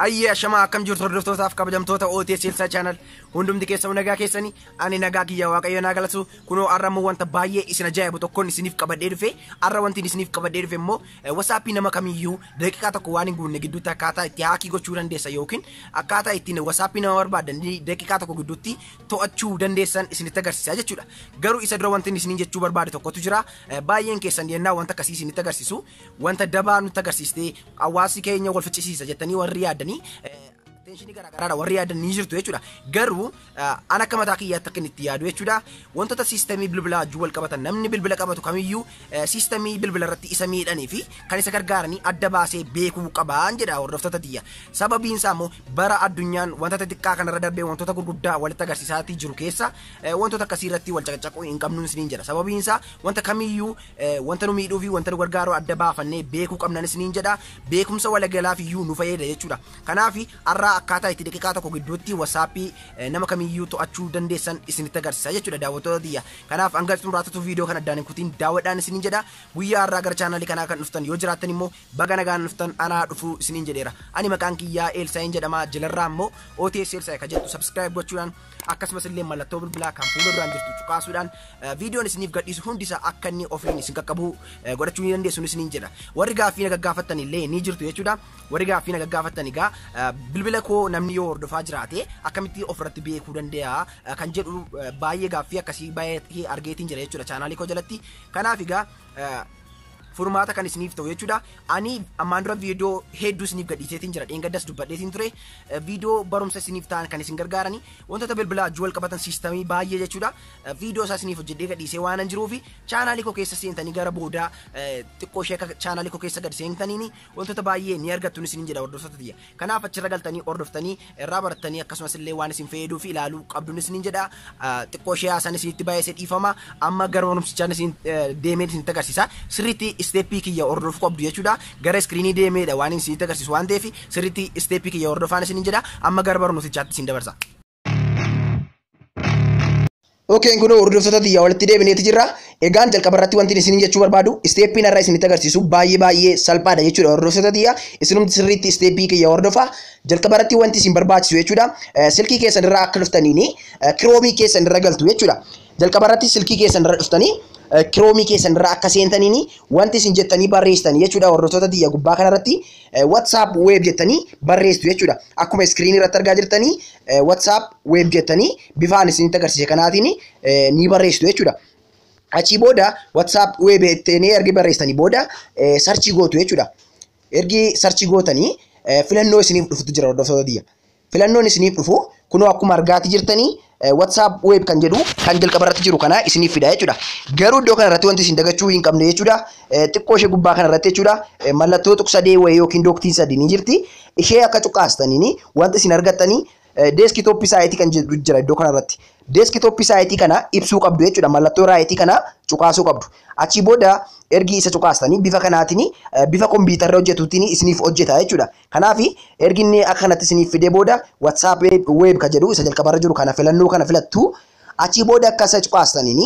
Ayyee ashamaa akkam jirtu hordoftootaaf kabajamtoota OTS Elsaa Channel hundumti keessan nagaa keessanii ani nagaa kiyya waaqayyo naa galatu kunoo har'a immoo wanta baay'ee isin ajaa'ibu tokkoon isiniif qabadhee dhufe har'a wanti isiniif qabadhee dhufe immoo wasaappii nama kamiyyuu daqiiqaa tokko waan hin guunne gidduutti akkaataa itti haakii gochuu dandeessa yookiin akkaataa ittiin wasaappii nama barbaadan daqiiqaa tokko gidduutti to'achuu dandeessan isinitti agarsiisa jechuudha. Garuu isa dura wanti inni isiniin jechuu barbaade tokkotu jira. Eh, Baay'een keessan yennaa wanta akkasii isinitti agarsiisu wanta dabaa nutti agarsiistee hawaasi keenya wal ficcisiisa jettanii warri yaaddanii eh, teenshinii garaagaraadha warri yaadan ni jirtu jechuudha. Garuu eh, an akka mataa kiyyaatti akka inni itti yaadu jechuudha. Wantoota siistemii bilbilaa wajjin wal qabatan namni bilbila qabatu kamiyyuu Siistamii bilbila irratti isa miidhanii fi kan isa gargaaranii adda baasee beekuu qabaan jedha hordoftoota tiyya. Sababiin isaa immoo bara addunyaan wantoota xiqqaa kanarra darbee wantoota gurguddaa walitti agarsiisaatii jiru keessa eh, wantoota akkasii irratti wal caqacaquu hin qabnu isiniin jedha. Sababiin isaa wanta kamiyyuu eh, wanta nu miidhuu fi wanta nu gargaaru adda baafannee beekuu qabnan isiniin jedha. Beekumsa walagalaaf iyyuu nu fayyada jechuudha. Kanaaf har'aa akkaataa itti daqiiqaa tokko gidduutti wasaappii eh, nama kamiyyuu to'achuu dandeessan isinitti agarsiisa jechuudha daawwattoota tiyya. Kanaaf hanga xumuraa tutuu viidiyoo kan addaan hin kutiin daawwadhaan isiniin jedha. Guyyaa har'aa gara chaanaalii kanaa kan dhuftan yoo jiraattan immoo baga nagaan dhuftan anaa dhufuu isiniin jedheera. Ani maqaan kiyyaa Eelsaayin jedhama jalarraa immoo OTS Eelsaayi kan jettu subscribe gochuudhaan akkasumas illee mallattoo bilbilaa kan fuula duraan jirtu cuqaasuudhaan viidiyoon isiniif gadhiisu hundi isaa akka inni ofiin isin qaqqabu godhachuu ni dandeessu isiniin jedha. Warri gaaffii na gaggaafattan illee ni jirtu jechuudha. Warri gaaffii na gaggaafattan egaa eh, bilbila koo namni yoo hordofaa jiraate akkamitti ofirratti beekuu danda'a eh, kan jedhu eh, baay'ee gaaffii akkasii baay'ee argeetiin jira jechuudha chaanaalii koo jalatti. Kanaaf egaa eh, furmaata kan isiniif ta'u jechuudha. Ani ammaan dura viidiyoo hedduu isiniif gadhiiseetiin jira. Dheengaddas dubbadheetiin ture. Eh, Viidiyoo barumsa isiniif ta'an kan isin gargaarani. Wantoota bilbilaa wajjin wal qabatan siistamii baay'ee jechuudha. Eh, Viidiyoo isaa isiniif hojjedhee gadhiisee waan hin jiruufi chaanaalii koo keessa seentanii gara boodaa eh, xiqqoo ishee akka chaanaalii koo keessa gad seentaniini Wantoota baay'ee ni argattu isiniin jedha hordoftoota tiyya. Kanaaf achirra galtanii hordoftanii irraa barattanii akkasumas illee waan isin fayyaduu fi ilaaluu qabdu isiniin jedha. Xiqqoo ishee haasaan isinitti baay'ee dhiifama. Amma gara barumsichaan isin deemee isinitti agarsiisa. Sirriitti isteeppii kiyya hordofuu qabdu jechuudha. Gara iskiriinii deemeedha waan isinitti agarsiisu waan ta'eef sirriitti isteeppii kiyya hordofaan isiniin jedha. Amma gara barumsichaatti isin dabarsa. Okeen kun hordoftoota tiyyaa walitti deebineeti jirra. Egaan jalqaba irratti wanti isin jechuu barbaadu isteeppiin irraa isinitti agarsiisu baay'ee baay'ee salphaadha jechuudha hordoftoota tiyya. Isinumti sirriitti isteeppii kiyya hordofa. Jalqaba irratti wanti isin barbaachisu jechuudha. Silkii keessan irraa akka dhuftaniini kiroomii keessan irra galtu jechuudha. Jalqaba irratti silkii keessan irra dhuftanii kiroomii keessan irra akka seentaniini wanti isin jettanii barreessitanii jechuudha hordoftoota tiyya gubbaa kanarratti WhatsApp web jettanii barreessitu jechuudha. Akkuma iskiriinii irratti argaa jirtanii WhatsApp web jettanii bifaan isinitti agarsiise kanaatiin ni barreessitu jechuudha. Achii booda WhatsApp web jettanii ergi barreessitanii booda sarchii gootu jechuudha. Ergi sarchii gootanii filannoo isiniif dhufutu jira hordoftoota biyya. filannoon isiniif dhufu kunoo akkuma argaati jirtanii WhatsApp web kan jedhu kan jalqaba irratti jiru kana isiniif fida jechuudha. Garuu iddoo kana irratti wanti isin dagachuu hin qabne jechuudha. Xiqqoo ishee gubbaa kana irratti jechuudha. Mallattoo tuqsadee wayii yookiin dooktiin sadii ni jirti. Ishee akka cuqaastaniin wanti isin argattanii deeskitooppii saayitii kan jedhu jira iddoo kana irratti. Deeskitooppii saayitii kana ibsuu qabdu jechuudha. Mallattoo raayitii kana cuqaasuu qabdu. Achii booda ergi isa cuqaastanii bifa kanaatiin bifa kompiitarra hojjetuutiin isiniif hojjeta jechuudha. Kanaaf ergi inni akka kanatti isiniif fidee booda WhatsApp web ka jedhu isa jalqabarra jiru kana filannoo kana filattu achii booda akka search baastaniin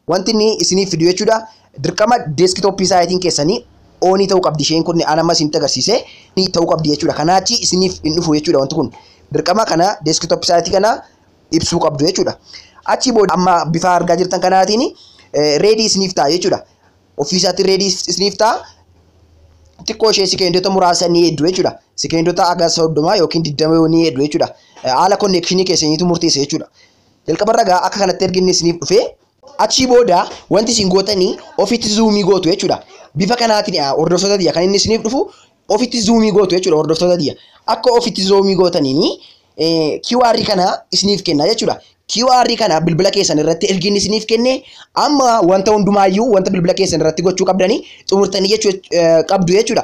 wanti inni isiniif fidu jechuudha. Dirqama deeskitooppii saayitiin keessanii oonii ta'uu qabdi isheen kun an amma isinitti agarsiise ni ta'uu qabdi jechuudha. Kanaa achi isiniif hin dhufu jechuudha wanti kun dirqama kana deeskitooppii saayitii kana ibsuu qabdu jechuudha. Achii booda amma bifa argaa jirtan kanaatiin reedii isiniif ta'a jechuudha. ofii isaatiin reedii isiniif ta'a. Xiqqoo ishee sekeendota muraasa ni heeddu jechuudha. Sekeendota haga soddoma yookiin digdama yoo ni heeddu jechuudha. Haala konneekshinii keessaniitu murteessa jechuudha. Jalqabarra egaa akka kanatti ergi inni isiniif dhufee achii booda wanti isin gootanii ofitti zuumii gootu jechuudha. Bifa kanaatiin hordoftoota tiyya kan inni isiniif dhufu ofitti zuumii gootu jechuudha hordoftoota diya. Akka ofitti zuumii gootaniin QR kana isiniif kenna jechuudha. QR kana bilbila keessan irratti ergiin isiniif kenne amma wanta hundumaayyuu wanta bilbila keessan irratti gochuu qabdanii xumurtanii jechuu qabdu jechuudha.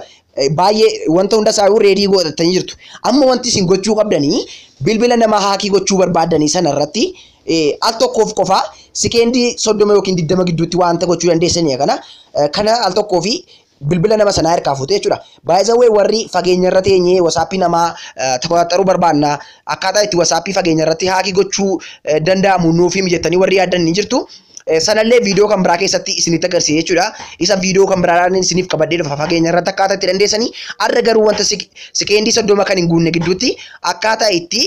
Baay'ee wanta hunda isaayuu reedii godhatanii jirtu. Amma wanti isin gochuu qabdanii bilbila namaa haakii gochuu barbaadanii sana irratti al tokkoof qofaa sikeendii soddoma yookiin digdama gidduutti wanta gochuu dandeessanii kana kana al tokkoo fi bilbila nama sanaa harkaa fuutee jechuudha. Baay'isawwee warri fageenya irra teenyee wasaappii namaa to'axaruu barbaanna akkaataa itti wasaappii fageenya irratti haakii gochuu danda'amu nuuf himi jettanii warri yaaddan ni jirtu. Sanallee viidiyoo kan biraa keessatti isinitti agarsiisa jechuudha. Isa viidiyoo kan biraadhaan isiniif qabadhee dhufa fageenya irratti akkaataa itti dandeessanii har'a garuu wanta sekeendii soddoma kan hin guunne gidduutti akkaataa itti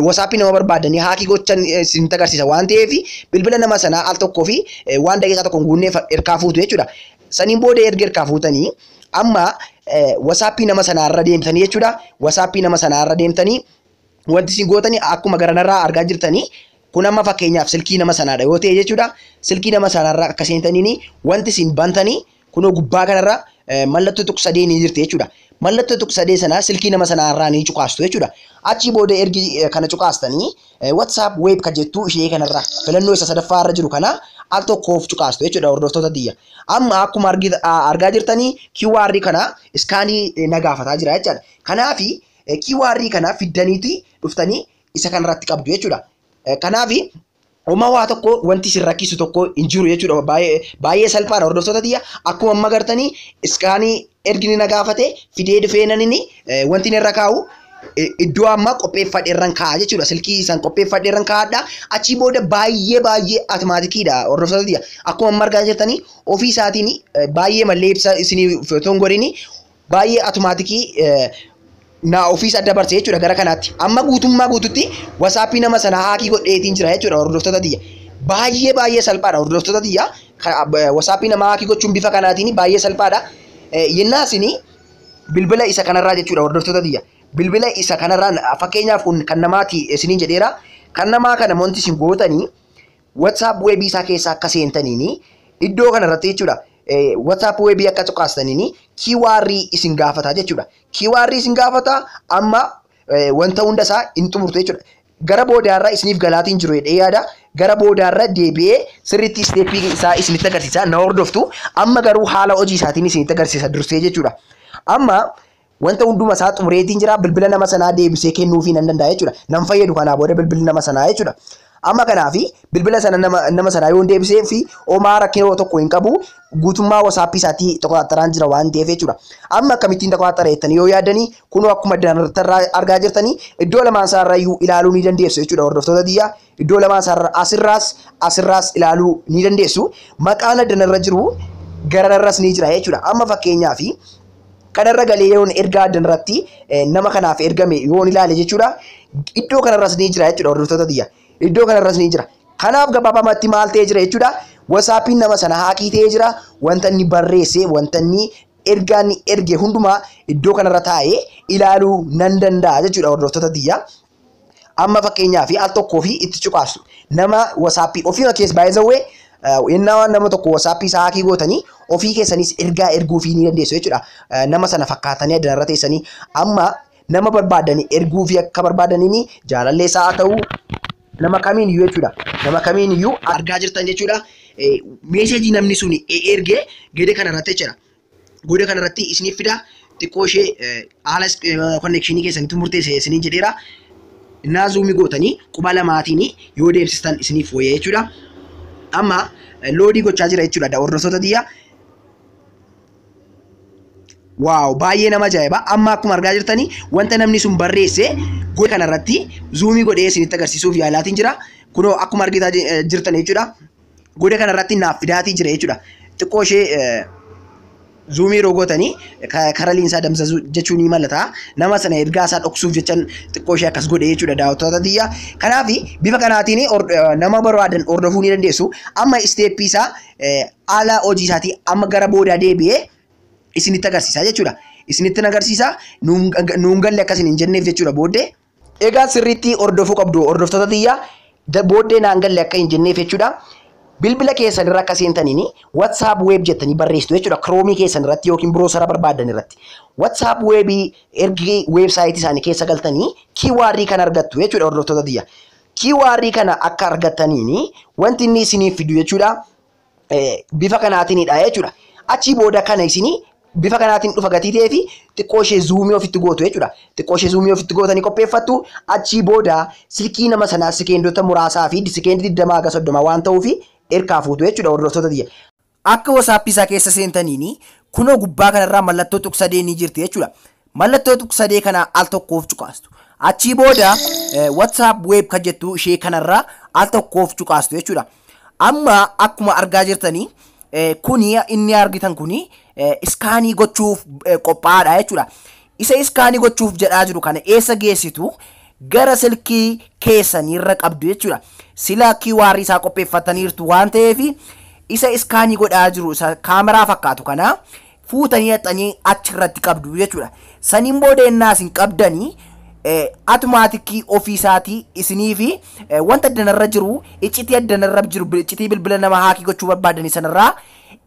WhatsApp nama barbaadanii haakii gochan isinitti agarsiisa waan ta'eef bilbila nama sanaa al tokkoo fi waan daqiiqaa tokko hin guunneef erkaa fuutu jechuudha. Saniin booda erga erkaa fuutanii amma WhatsApp nama sanaa irra deemtanii jechuudha. WhatsApp nama sanaa irra deemtanii wanti isin gootanii akkuma garanarraa argaa jirtanii kun amma fakkeenyaaf silkii nama sanaadha yoo ta'e jechuudha. Silkii nama sanaarra akka seentaniin wanti isin bantanii Kunoo gubbaa kanarra mallattoo tuq sadee ni jirti jechuudha. Mallattoo tuq sadee sana silkii nama sanaa irraa ni cuqaastu jechuudha. Achii booda ergi kana cuqaastanii WhatsApp web kan jettu ishee kanarra filannoo isa sadaffaa irra jiru kana al tokkoof cuqaastu jechuudha hordoftoota tiyya. Amma akkuma argaa jirtanii QR kana iskaanii na gaafataa jira jechaadha. Kanaaf QR kana fiddaniiti dhuftanii isa kanarratti qabdu jechuudha. Kanaaf Homa waa tokko wanti isin rakkisu tokko hin jiru jechuudha. Baay'ee baay'ee salphaadha hordoftoota tiyya. Akkuma amma gartanii iskaanii ergini na gaafate fidee dhufee nanini wanti inni irra kaa'u iddoo amma qopheeffadhe irran kaa'a jechuudha. Silkii san qopheeffadhe irran kaa'adha. Achii booda baay'ee baay'ee atimaatikiidha hordoftoota tiyya. Akkuma amma argaa jirtanii ofii isaatiin baay'ee mallee ibsa isinii otoo hin godhini baay'ee atumaatikii naa ofiisa dabarse jechuudha gara kanaatti amma guutummaa guututti wasaappii nama sanaa haakii godheetiin jira jechuudha hordoftoota tiyya baay'ee baay'ee salphaadha hordoftoota tiyya wasaappii nama haakii gochuun bifa kanaatiin baay'ee salphaadha yennaa isinii bilbila isa kanarraa jechuudha hordoftoota tiyya bilbila isa kanarraa fakkeenyaaf kun kan namaati isiniin jedheera kan namaa kana wanti isin gootanii WhatsApp web isaa keessa akka seentaniin iddoo kana irratti jechuudha. WhatsApp web akka cuqaastaniin QR isin gaafata jechuudha. QR isin gaafata amma wanta hunda isaa hin xumurtu jechuudha. Gara boodaarra isiniif galaatiin jiru jedhee yaada. Gara boodaarra deebi'ee sirriitti isteeppii isaa isinitti agarsiisa. Na hordoftu. Amma garuu haala hojii isaatiin isinitti agarsiisa dursee jechuudha. Amma Wanta hunduma isaa xumureetiin jira. Bilbila nama sanaa deebisee kennuufii nan danda'a jechuudha. Nan fayyadu kanaa booda bilbilli nama sanaa jechuudha. Amma kanaaf bilbila sana nama, nama sanaa yoon deebisee fi homaa rakkina tokko hin qabu guutummaa wasaappii isaatii tokotaattaraan jira waan ta'eef jechuudha. Amma akkamittiin tokotattara jettanii yoo yaadanii kunoo akkuma danarrattarraa argaa jirtanii iddoo lamaan isaarrayyuu ilaaluu ni dandeessu jechuudha hordoftoota tiyyaa. Iddoo lamaa isaarra asirraas asirraas ilaaluu ni dandeessu. Maqaan addanarra jiru garanarras ni jira jechuudha. Amma fakkeenyaaf kanarra galee yoon ergaa addanarratti eh, nama kanaaf ergame yoon ilaale jechuudha. Iddoo kanarras ni jira jechuudha hordoftoota tiyya. Iddoo kanarras ni jira. Kanaaf gabaabamatti maal ta'ee jira jechuudha. Wasaappiin nama sana haakii ta'ee jira. Wanta inni barreesse, wanta inni ergaa inni erge hundumaa iddoo kanarra taa'ee ilaaluu nan danda'a jechuudha hordoftoota tiyya. Amma fakkeenyaa fi al tokkoo fi itti cuqaafsu. Nama wasaappii ofiima kees baay'isawwee yennaa waan nama tokko wasaappii isaa haakii gootanii ofii keessanis ergaa erguu fi ni dandeessu jechuudha. Eh, Nama sana fakkaatanii addana irra teessanii amma nama barbaadanii erguu fi akka barbaadaniin jaalallee isaa haa ta'u nama kamiin iyyuu jechuudha. Nama kamiin iyyuu argaa jirtan jechuudha. Eh, Meesheejii namni sun erge gede kana irratti jechuudha. Booda kanarratti isiniif fida xiqqoo ishee haala konnekshinii keessanitti murteesse isiniin jedheera. Innaa zuumii gootanii quba lamaatiin yoo deemsistan isiniif wayya jechuudha. Amma loodii gochaa jira jechuudha da hordoftoota tiyya. Waaw baay'ee nama ajaa'iba. Amma akkuma argaa jirtanii wanta namni sun barreesse gocha kanarratti zuumii godhee isinitti agarsiisuuf yaalaatiin jira. Kunoo akkuma argitaa jirtan jechuudha. goda kana irratti naaf fidaatii jira jechuudha. Xiqqoo ishee zuumii yeroo gootanii karaa liinsaa damsasuu jechuun ni malata. Nama sana ergaa isaa dhoksuuf jechan xiqqoo ishee akkas godhe jechuudha daawwattoota tiyya. Kanaaf bifa kanaatiin nama barbaadan hordofuu ni dandeessu. Amma isteeppii isaa haala hojii isaatii amma gara boodaa deebi'ee isinitti agarsiisa jechuudha. Isinitti agarsiisa nuun galle akkas hin jenneef jechuudha booddee. Egaa sirriitti hordofuu qabdu hordoftoota tiyya booddee naan galle akka hin jenneef jechuudha. Bilbila keessan irra akka seentaniin WhatsApp web jettanii barreessitu jechuudha. Chrome keessan irratti yookiin browsera barbaaddan irratti. WhatsApp web ergi website isaanii keessa galtanii QR kan argattu jechuudha hordoftoota tiyya. QR kana akka argattaniin wanti inni isiniif fidu jechuudha. bifa kanaatiinidha jechuudha. Achii booda kana isinii bifa kanaatiin dhufa gatii ta'ee fi xiqqoo ishee zuumii ofitti gootu jechuudha. Xiqqoo ishee zuumii ofitti gootanii qopheeffattu achii booda silkii nama sanaa sikeendota muraasaa fi sikeendii digdamaa haga soddoma waan ta'uu fi erkaa fuutu jechuudha hordoftoota tiyya. Akka WhatsApp isaa keessa seentaniin kunoo gubbaa kanarraa mallattoo tuqsadee ni jirti jechuudha. Mallattoo tuqsadee kana al tokkoof cuqaastu. Achii booda WhatsApp web kan jettu ishee kanarra al tokkoof cuqaastu jechuudha. Amma akkuma argaa jirtanii kuni inni argitan kuni iskaanii gochuuf qophaa'aadha jechuudha. Isa iskaanii gochuuf jedhaa jiru kana eessa geessitu gara silkii keessaniirra qabdu jechuudha. Sila QR isaa qopheeffataniirtu waan ta'eef isa iskaanii godhaa jiru isa kaameraa fakkaatu kana fuutanii dhaxxanii achi irratti qabdu jechuudha. Saniin booda ennaa isin qabdanii atumaatikii ofii isaatii isinii fi wanta addanarra jiru iccitii addanarra jiru iccitii bilbila nama haakii gochuu barbaadanii sanarraa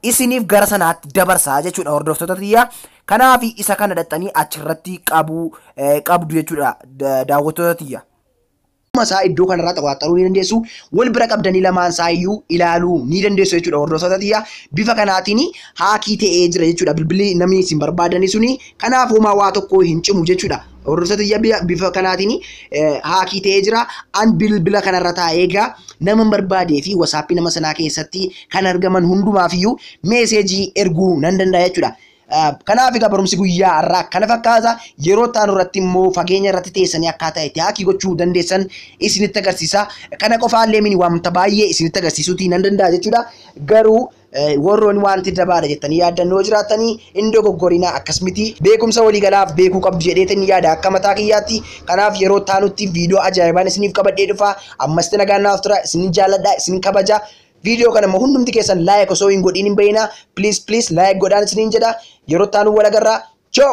isiniif gara sanaatti dabarsaa jechuudha hordoftoota tiyya. Kanaaf isa kana dhaxxanii achirratti qabuu qabdu jechuudha daawwattoota tiyya. Akkuma isaa iddoo kanarraa xawaaxxaruu ni dandeessu. Wal bira qabdanii lamaan isaa iyyuu ilaaluu ni dandeessu jechuudha hordoftoota tiyya. Bifa kanaatiin haakii ta'ee jira jechuudha bilbilli namni isin barbaadanii suni. Kanaaf homaa waa tokko hin cimu jechuudha. Hordoftoota tiyya bi- bifa kanaatiin eh, haakii ta'ee jira. An bilbila kanarra taa'ee egaa nama hin barbaadee fi wasaappii nama sanaa keessatti kan argaman hundumaaf iyyuu meeseejii erguu nan danda'a jechuudha. Kanaaf egaa barumsi guyyaa har'aa kana fakkaata. Yeroo itti aanu irratti immoo fageenya irratti teessanii akkaataa itti haakii gochuu dandeessan isinitti agarsiisa. Kana qofaallee mini wanta baay'ee isinitti agarsiisuutii nan danda'a jechuudha. Garuu warroonni wanti dabaadha jettanii yaaddan yoo jiraatanii hin dogoggorinaa akkas miti. Beekumsa waliigalaaf beekuu qabdu jedheetiin yaada akka mataa kiyyaatti. Kanaaf yeroo itti aanutti viidiyoo ajaa'ibaan isiniif qabadhee dhufa. Ammas nagaan naaf tura. Isin jaalladha, isin kabaja. Video kana immoo hundumti keessan like osoo hin godhiin hin bahinaa please please like godhaan isiniin jedha yeroo itti aanu wal agarraa ciao.